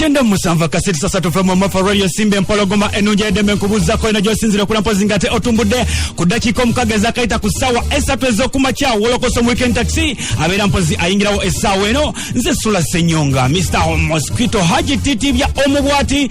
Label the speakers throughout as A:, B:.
A: kyenda musanvu akasiri sasa tuve mu mafa radio simba empologoma enungi edembe nkubuuzako eno gyosinzira okula mpozi nga te otumbudde ku ddakiika omukaaga ezakayita ku ssaawa esatu ez'okumakya wolokoso mu weekend taxi abeera mpozi ayingirawo essaawa eno nze sula senyonga mr mosquito haji titibya omubwati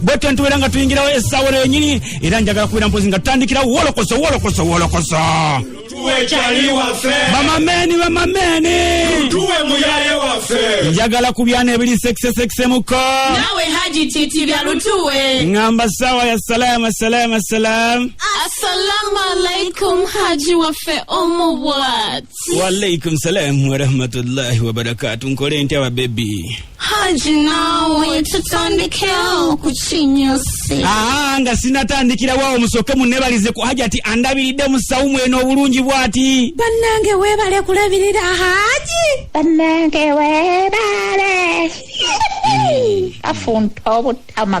A: bwetyo ntubeera nga tuyingirawo essaawa eno yenyini era njagala kubeera mpozi nga tutandikira wolokoso wolokoso wolokoso bamameni bamameni njagala ku byana ebiri sekisesekisemuko nawe haji
B: titi bya lutuwe ngamba sawa ya
A: salam asalam asalam assalamu
B: alaikum haji waffe omuwat waalaikum
A: salam warahmatullahi wabarakatu nkole ntya babebi haji
B: nawe tutandikewo ku kinyusi aa nga
A: sinatandikirawo awo musooke munebalize ku hajati andabiridde mu sawumu eno obulungi bwati bannange weebale
B: kulabirira haji bannange
C: weebale afunta obutama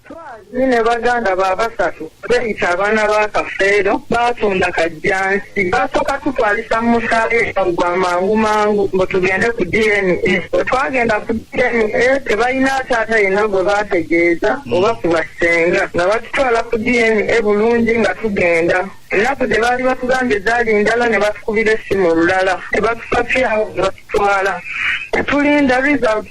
A: Twazi ne
D: baganda ba basatu beeyita abaana ba Kafeero baatunda kajjansi baasooka tutwalisa mu musaayi gwa mangu mangu mbu tugende ku DNA. Bwe twagenda ku DNA tebalina taata yenna gwe baategeeza oba ku bassenga nga batutwala ku DNA bulungi nga tugenda ennaku gye baali batugambye zaali ndala ne batukubira essimu olulala ne batusafyawo ne batutwala ne tulinda results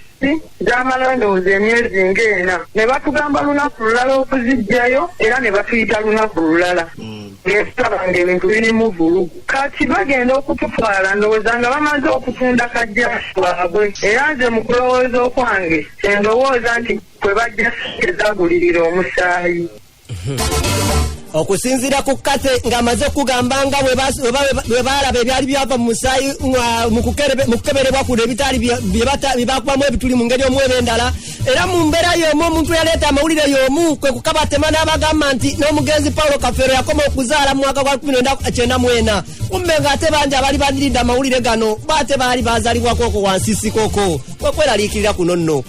D: gyamala ndowooza emyezi ng'ena ne batugamba lunaku lulala okuziggyayo era ne batuyita lunaku lulala mm. ngetulaba ng'ebintu birimu vulugu kati bagenda okututwala ndowooza nga bamaze okutunda kajjasi waabwe era nze mu kulowooza okwange endowooza nti kwe bajja sente zagulirira omusaayi
E: okusinziira ku kathe ng'amaze okugamba nga bwe baalaba ebyali byava mu musaayi mu kukeberebwa kuno ebitaali byebakubamu ebituli mu ngeri omu eba endala era mu mbeera y'omu omuntu yaleeta amawulire y'omu kwe kukabatema n'abagamba nti n'omugenzi paulo kafeero yakoma okuzaala mu mwaka gwa 1994 kumbe ng'ate bangi abali baniridde amawulire gano baate baali baazalibwako okwo wansi sikoko kwekweraliikirira kuno nno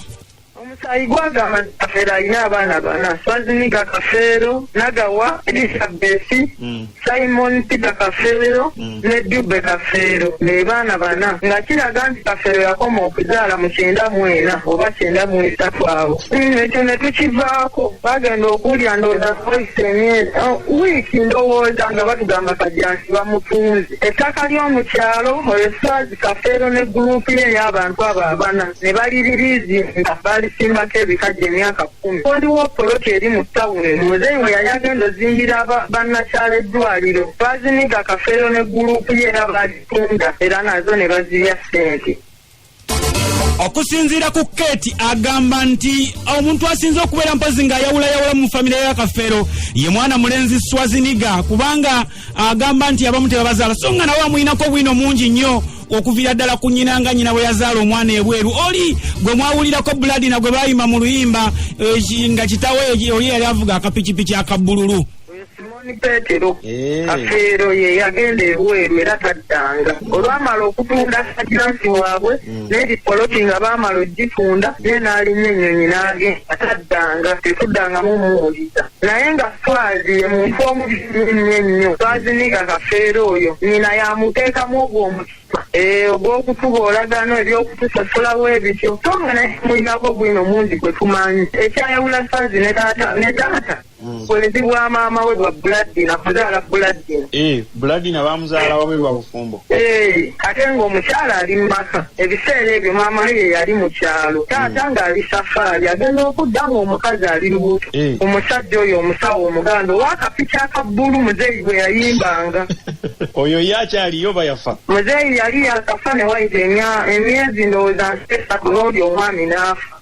E: omusaayi
D: gwagamba nti kafeero alina abaana bana swazinika kafeero nagawa elisabesi mm. simon peter kafeero mm. ne dube kafeero nebaana bana nga kiraga nti kafeero yakoma okuzaala mu kyenda mwena oba kyenda mwesatu abo mm, ekyo netukivaako bagenda okuwulira ndowooza voice emyezi oh, wiiki ndowooza nga batugamba kajansi bamutunzi ettaka ly'omukyalo oyo swazi kafeero ne guruupu ye ey'abantu abo abana ne baliririizi nga baalisimbako ebikajja emyaka kkumi waliwo poloti eri mu tawuni muzeeyi we yali agenda ozimbira bannakyala eddwaliro baaziniga kafeero ne guluupu ye era baalitunda era nazo ne bazirya ssente okusinziira
A: ku kate agamba nti omuntu asinze okubeera mpozi ng'ayawulayawula mu famire ya kafeero ye mwana mulenzi swaziniga kubanga agamba nti abamu tebabazaala so nga nawe amuyinako obwino mungi nnyo okuviira ddala ku nyina nga nyina bwe yazaala omwana ebweru oli gwe mwawulirako buladina gwe bayima mu luyimba eh, nga kitawe oli yali avuga akapikipiki akabbululu simoni petero
D: eh. kafeero ye yagenda ebweru era taddanga olwamala okutunda sakiransi waabwe neri poloti nga baamala ogitunda ye n'alinnya ennyonyi n'agenda taddanga tekuddangamu muwuliza naye nga faazi ye muntu omubisinyo ennyo faazi niga kafeera oyo nyina yamuteekamu ogwo omutima eh, ogw'okutuba olagano ebyokutusasulawo ebityo so nga naye mulinako gwino mungi gwe tumanyi ekyayawula faazi ne taata ne taata Mm. bwenzi bwa maama we bwa buladina kuzaala buladina eh, buladina
F: bamuzaala wabe lwa bufumbo eh, ate
D: ng'omukyala ali mu maka ebiseera ebyo maama ye yali mu kyalo taata mm. ng'ali safaari agenda okudda ng'omukazi ali lubuto eh. omusajja oyo omusawo omuganda owakapiki akabbulu muzeeyi gwe yayimbanga oyo ye
F: akyaliyo bayafa muzeeyi yali
D: yakafa ne wayita emyezi ndowooza nsesatu n'oli omwami n'afa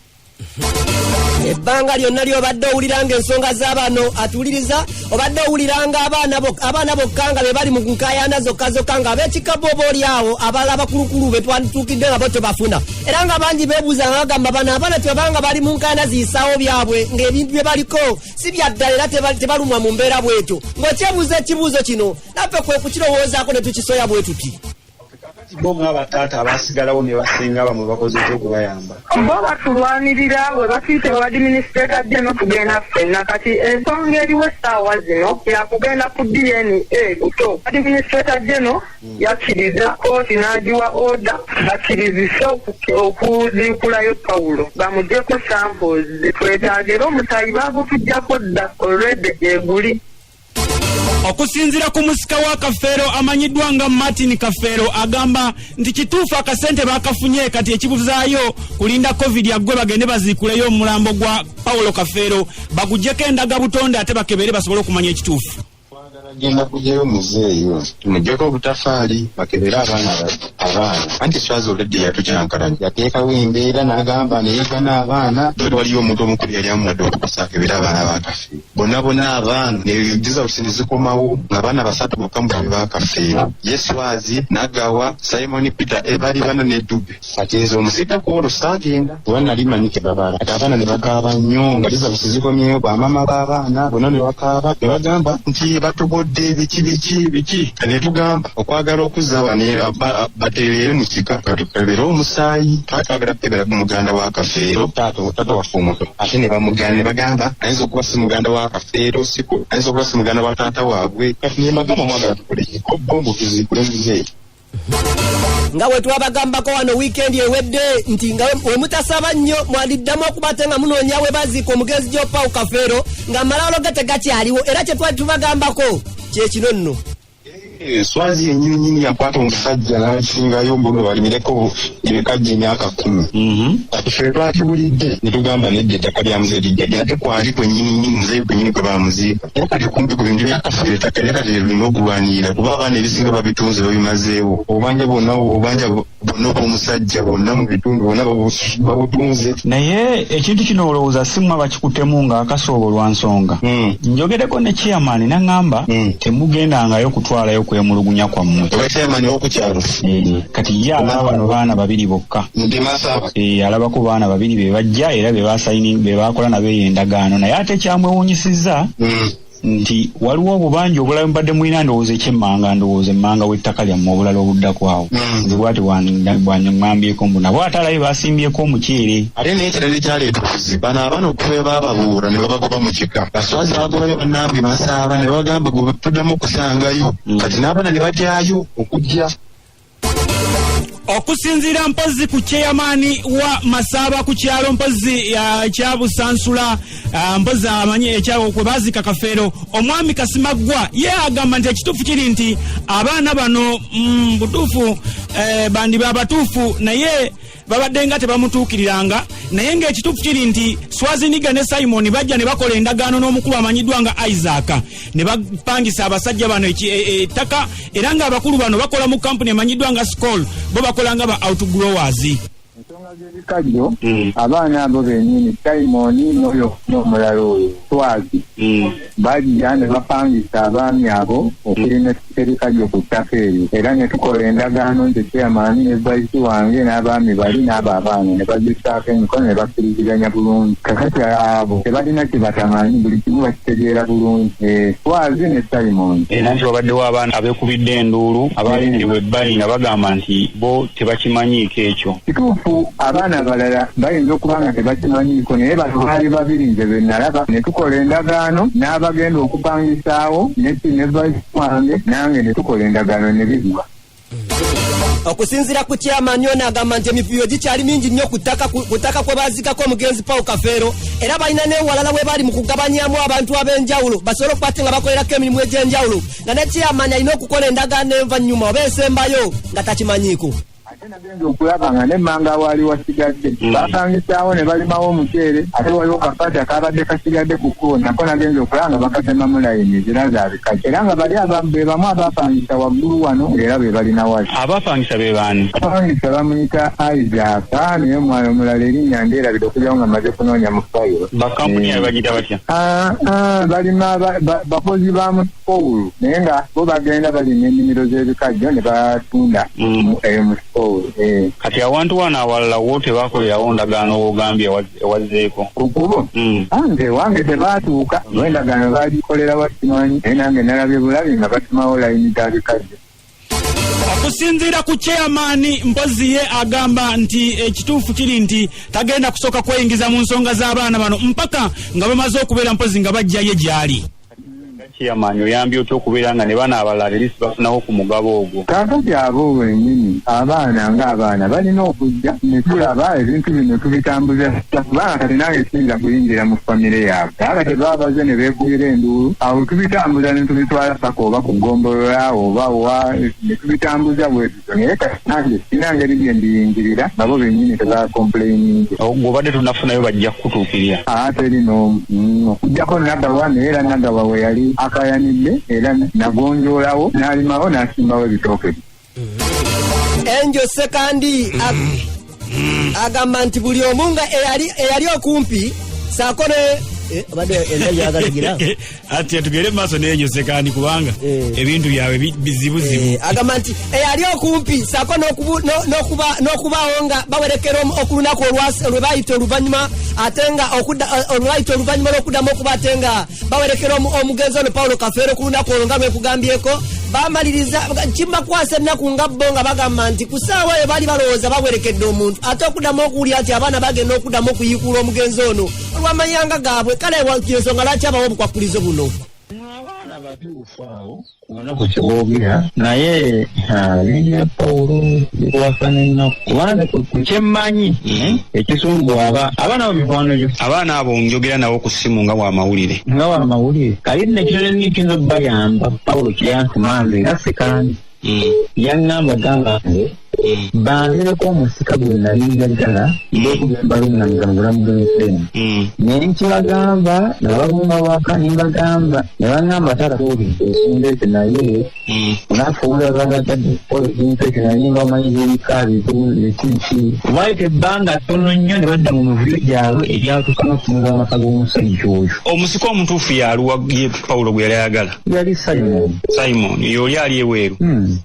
E: ebbanga lyonna lyobadde owulira nga ensonga zabano atuwuliriza obadde owulira nga abaana bokka nga bebali mu nkayana zokka zokka nga abekikabo oba olyawo abala abakulukulu betwatuukidde nga bo tebafuna era nga bangi bebuuza nga bagamba bano abaana tebabanga bali mu nkayana ziyisaawo byabwe ngaebintu byebaliko si byaddala era tebalumwa mu mbeera bwetyo ngaokyebuuza ekibuuzo kino naffe kwekukirowoozaako netukisoya bwetuti Kakati bo nga
F: abataata abaasigalawo ne basenga bamwe bakozeeko okubayamba. Bo batulwanirira
D: bwe batuuse mu badiminisiteeka bye n'okugenda ffenna kati ensonga eriwo essaawa zino ya kugenda ku DNA buto. Badiminisiteeka geno hmm. yakkiriza kkooti n'agiwa oda bakkirizise okuziikulayo Pawulo bamugyeko samples zetwetaaga era omusaayi baagutujjako dda olwedde gyeguli.
A: okusinzira ku musika wa kafeero amanyiddwa nga martin kafeero agamba nti kituufu akasente bakafunye kati ekibuzaayo kulinda covid aggwe bagende baziikuleyo omulambo gwa paulo kafeero bagugyeko endaga butonde ate bakebere basobole okumanya ekituufu agenda
G: kugyayo muzeeyi tumugyeko obutafaali bakebere abaana abaana anti swaza oledde yatucankalanya yateekawo embeera n'agamba neyegana abaana waliyo omuntu omukulu yali amuwadde okukusa akebere abaana bakafe bonna bonna abaana nebigiza busini zikomawo nga baana basatu bokka mu bali bakafeero yeswazi nagawa simon peter ebali bana ne dube kati nze omusika kwolwo saagenda kuba nali manyi kebabala ati abaana ne bakaaba nnyo nga liza busi zikomyeyo bamama b'abaana bonna ne bakaaba ne bagamba nti batobodde biki biki biki ne tugamba okwagala okuzza bane batereere mu kika katukebeere omusaayi twatwagala kukebera ku muganda wa kafeero taata taata waffe omuto ate ne bamugana ne bagamba ayinza okuba si muganda wa kafeero siko ayinza okuba si muganda wa taata waabwe kati ne mbagamba mwagala tukole kobombo tuzikule muzeeyi
E: nga wetwabagambako wano wiikendi ewedde nti nga wemutasaba nnyo mwaliddamu okuba ate nga munoonya we baziika omugenzi gyopau kafeero nga amalawulo ge tegakyaliwo era kyetwali tubagambako kyekino nno
G: swazi yenyini nyini yakwata omusajja n'akisingayo mbuno balimireko ebikajja emyaka kkumi kati ffe twakibulidde ne tugamba nedda ettaka lya muze lijja lya ate kwali kwenyini nyini muze kwenyini kwe bamuziika naye kati kumpi ku bintu byakaffe ettaka era kati lirina okulwanirira kuba abaana ebisinga babitunze babimazeewo obanja bwonna obanja bonna obwomusajja bonna mu bitundu bonna babutunze naye
H: ekintu kino olowooza simwa bakikutemu nga akasoobo lwa nsonga hmm. njogereko ne chairman naŋamba hmm. temugendangayo kutwalayo kwemulugunya kwammwe hmm.
G: kati ye
H: alaba bano baana babiri bokka eh, alabako baana babiri bebajja era bebakola nabeyo endagaano naye ate kyamwewunyisiza nti waliwo obubanja obulala mubadde mulina ndowooza ekyemmanga ndowooza emmanga w'ettaka lyammwe obulala obuddako awo hmm. nze bwati bwanyaŋŋambyeko mbu nabo ate alabe basimbyeko omuceere ate n'ekirala ekyaleeta
G: obuzibu bano abaana okuva bababuura ne babagoba mu kika baswazi bagobayo bannange basaaba ne bagamba gwe tuddamu okusangayo hmm. kati n'abaana ne batyayo okujja
A: okusinziira mpozzi ku cheyamaani wa masaaba ku kyalo mpozzi kyabusansula ah, mpozzi amanyi ekyawo kwe baziika kafeero omwami kasimaggwa ye agamba nti ekituufu kiri nti abaana bano mm, butuufu eh, bandiba abatuufu naye babadde nga tebamutuukiriranga naye ng'ekituufu kiri nti swaziniga ne simoni bajja ne bakola endagaano n'omukulu amanyiddwa nga isaaka ne bapangisa abasajja bano e, e, ettaka era ng'abakulu bano bakola mu kampuni emanyiddwa nga scol bo bakola nga ba outgrowers ensonga
I: z'ebikajjo hmm. abaana abo benyini simoni noyo n'omulala oyo swazi hmm. bajja ne bapangisa abaami abo okulima serikajjo ku ttaka eryo era ne tukola endagaano nti chairman ne vice wange n'abaami bali n'abo abaana ne bazisaako emikono ne bakkiriziganya bulungi kakati abo tebalina kye batamanyi buli kimu bakitegeera bulungi eh, twazi ne simon era nti wabaddewo abaana
H: abekubidde enduulu abaayingirwa ebbali nga bagamba nti bo tebakimanyiiko ekyo kituufu abaana
I: abalala bayinza okuba nga tebakimanyiiko naye bano baali babiri nze be nalaba ne tukola endagaano n'abagenda okupangisaawo neti ne vaisi wange nange ne tukola endagaano ne bigwa
E: okusinzira ku kyamani ono agamba nti emivuyo gikyali mingi nnyo ku ttaka kwe bazikako omugenzi paul kafeero era balina n'ewalala we bali mu kugabanyamu abantu ab'enjawulo basobole okuba ate nga bakolerako emirimu egy'enjawulo nga ne chairman alina okukola endagaano envannyuma oba esembayo nga takimanyiiko ate nagenza
I: okulaba nga nemmanga waali wasigadde mm. bakangisaawo ne balimawo omuceere ate waliwo kafaata kaabadde kasigadde ku kkubo nako nagenza okulaba nga bakatemamu layini ezira zaabikaki era nga bali be bamu abapangisa waggulu wano era be balina wali abapangisa be baani
H: abapangisa bamuyita
I: isaaka naye omwana omulala erinnya ndeerabide okujawo nga maze kunoonya mu fayiro bakampuni abagita
H: batya Ah, ah, balima
I: ba- ba- bakozi ba musikoulu naye nga bo bagenda balima ennimiro z'ebikajjo ne batunda Mm. mu- eyo musikoulu eh. kati
H: awantu wano awalala wo tebakolerawo ndagaano wogambye ewa- ewazzeeko ku kubo Mm.
I: ange wange tebaatuuka olw'endagaano baagikolera wakimanyi naye nange nalabye bulabi nga batumawo layini za bikajjo
A: okusinziira ku chairman mpozi ye agamba nti ekituufu kiri nti tagenda kusooka kweyingiza mu nsonga z'abaana bano mpaka nga bamaze okubeera mpozi nga bajjaye gyali chairman
H: oyambye otya okubeera nga ne bana abalala lisi bafunawo ku mugabo ogwo kakati abo
I: wenyini abaana ng'abaana balina okujja netulaba ebintu bino tubitambuza kubanga kati nange siyinza kuyingira mu famire yaabwe naye kati baba baze ne beegulira enduulu awo tubitambuza ne tubitwala paka oba ku ggombolola oba wa ne tubitambuza bwetutyo naye kati nange sina ngeri bye mbiyingirira nabo bennyini tebakompuleyininze ng'obadde tonafunayo
H: bajja kukutuukirira aa teri n'omu
I: Mm, okuggyako nagawa naye era nagawa we yali akayanidde era nagonjoolawo n'alimawo n'asimbawo ebitooke bye
E: enjo sekandi agamba nti buli omu nga eyali okumpi saako ne Eh,
A: ati atugere maaso nenyozekani kubanga eh. ebintu byabwe bizibuzibu eh, agamba nti
E: eyali okumpi sako nokubawo nga bawerekera okulunaku olwebayita oluvanyuma ate nga olwebayita oluvanyuma lwokuddamu okuba ate nga bawerekera omugenzi ono paulo kafeero ku lunaku olwo nga lwekugambyeko bamaliriza kimakwasa ennaku nga bo nga bagamba nti ku saawa eyo baali balowooza bawerekedde omuntu ate okuddamu okuwulira nti abaana bagenda okuddamu okuyiikuula omugenzi ono olwamanyanga gaabwe kale ensonga lwaki abawo obukwakkulizo buno
I: omunaku kyewogera naye linya pawulo likwafana ennaku kubanga ku kyemmanyi hmm? ekisumbu aba abaana bo mikwano gyo abaana abo njogera
H: nawo ku ssimu nga wamawulire nga wamawulire kali
I: nekinonenekiyinza okubayamba pawulo kyeyantumanga era sikandi hmm. yaŋŋamba gamba nge bangereko omusika gwe nali njagala balunanga mubulamu bwenfemu naye nkibagamba nababumba waka nembagamba nebagamba tarakobi ensonga ezo naye onafuula bagatadde kukola ebintu ekyo naye mbamanyi zebika bizinki waite ebbanga tono nnyo ne badda mu mivuyo gyabwe ebyatuka nokutunula amaka g'omusajja oyo omusika omutuufu
H: yaluwa ye pawulo gwe yali ayagala yali simon
I: simon yooli ali
H: eweeru hmm.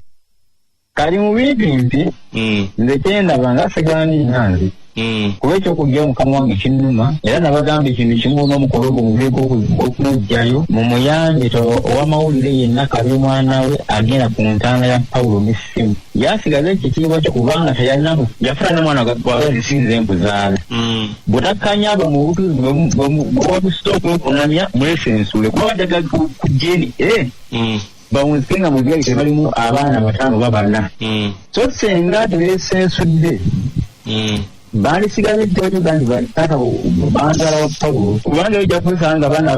I: kali mu bintu nti mm. nze kyendaba nga sigani nange mm. kuba ekyokujja omukama wange kinuma era nabagamba ekintu kimu n'omukolo gwo muveeko okumugjayo mu muyambe to owamawulire yenna kabi omwana we agenda ku ntaana ya pawulo n'essimu yasigaza ekitiibwa kyo kubanga teyalinamu yafuna nomwana wabazisinza embuzaala mm. bwetakkanya abo mu butuzi bwewabusa okwekunamya mwesensuule kuba bajjaga kujeni eh. mm. bawunzike nga mu gate balimu abaana bataano babana mm. so senga tebesensudde mm. bandisigaze kyoyuga nti taata bantwala wa pawulo kubanga ojja kusanga nga baana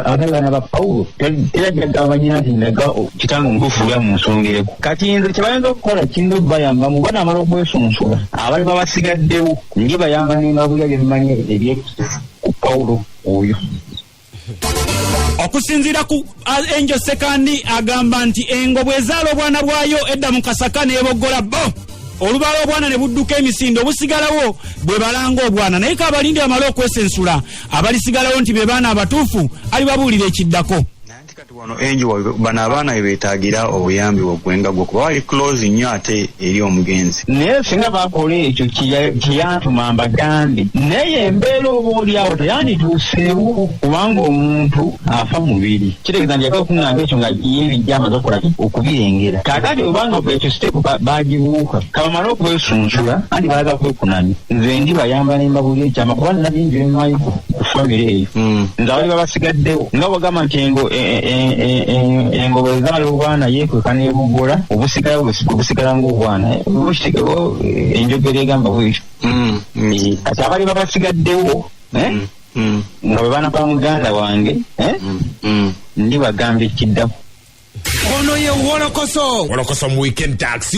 I: abatali baana ba pawulo era jjagabanyina nti ndaga kitanga omukufuula mu nsonga eko kati nze kyebayinza okukola kiyinza okubayamba mu bana amala okwesunsula abali babasigaddewo nje bayamba nemabulya byemmanyi ebyekusifu ku pawulo oyo
A: okusinziira ku angel sekandi agamba nti engo bwezaala obwana bwayo edda mu kasaka neboggola bo olubala obwana ne budduka emisinde obusigalawo bwe balanga obwana naye kaabalindi amale okwesensula abalisigalawo nti be baana abatuufu alibabuulira ekiddako kati wano
H: enjo bano abaana be beetagira obuyambi bwaggwenga gwo kuba bali close nnyo ate eri omugenzi naye singa bakola
I: ekyo kyeyantuma mbagambe naye embeera oba oliawo teyandituuseewo kubanga omuntu afa mubiri kitegeeza nti yaka okuŋŋamba ekyo nga yebijja amaze okukola okubirengera kakati obanga ekyo siteepu bagibuuka kabamale okwesunsula anti baagala kwekunani nze ndibayamba nembabuuli ekyama kuba nina bingi bimayiko ku famire eyo hmm. nze abali babasigaddewo nga bagamba nti engoba ezaala obwana yekweka nebugola obusigalawo obusigala ngaobwana enjogera egamba bwekyo hmm. eh, kati abali babasigaddewo eh, hmm. nga bwe baana ba muganda wange eh,
J: ndi
I: bagamba
J: ekiddamu
I: ono ye
J: wolokoso wolokoso
I: mu weekend
J: taxi